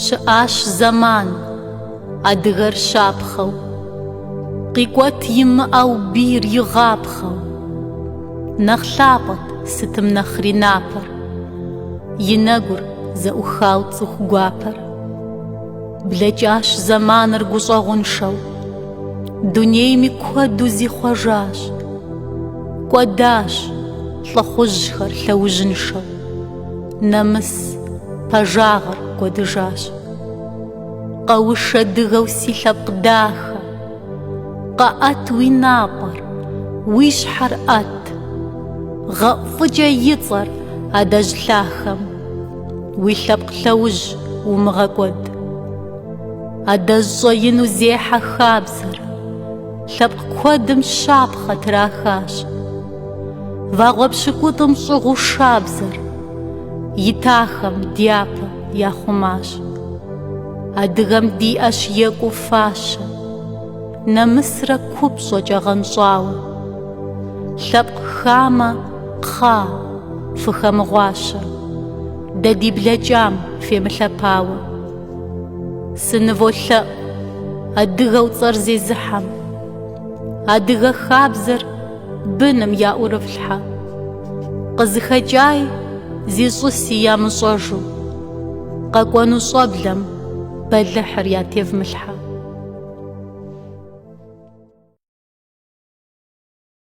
Щыӏащ зэман, адыгэр щапхъэу, Къикӏуэт имыӏэу бийр игъапхъэу. Нэхъ лъапӏэт сытым нэхъри напэр, И нэгур зэӏухау цӏыху гуапэр. Блэкӏащ зэманыр гущӏэгъуншэу, Дунейми куэду зихъуэжащ. Кӏуэдащ лӏыхъужьхэр лъэужьыншэу. Нэмыс пэжагъыр кӏуэдыжащ. Къэушэ дыгэу си лъэпкъ дахэ, Къэӏэт уи напӏэр, уи щхьэр ӏэт. Гъэӏу фӏыкӏэ и цӏэр адэжь лъахэм, Уи лъэпкъ лъэужь умыгъэкӏуэд. Адэжь щӏэину зехьэ хабзэр, Лъэпкъ куэдым щапхъэ трахащ. Вагъуэ пщыкӏутӏым щӏыгъуу шабзэр Итахэм дяпэ яхъумащ. Адыгэм диӏэщ екӏуу фащэ, Нэмысрэ купщӏэкӏэ гъэнщӏауэ. Лъэпкъ хамэ, кхъа, фыхэмыгъуащэ, Дэ ди блэкӏам фемылъэпауэ. Сыныволъэӏу адыгэу цӏэр зезыхьэм, Адыгэ хабзэр Быным яӏурыфлъхьэ. Къызыхэкӏаи, зищӏыси ямыщӏэжу. Къэкӏуэну щӏэблэм бэлыхьыр ятевмылъхьэ.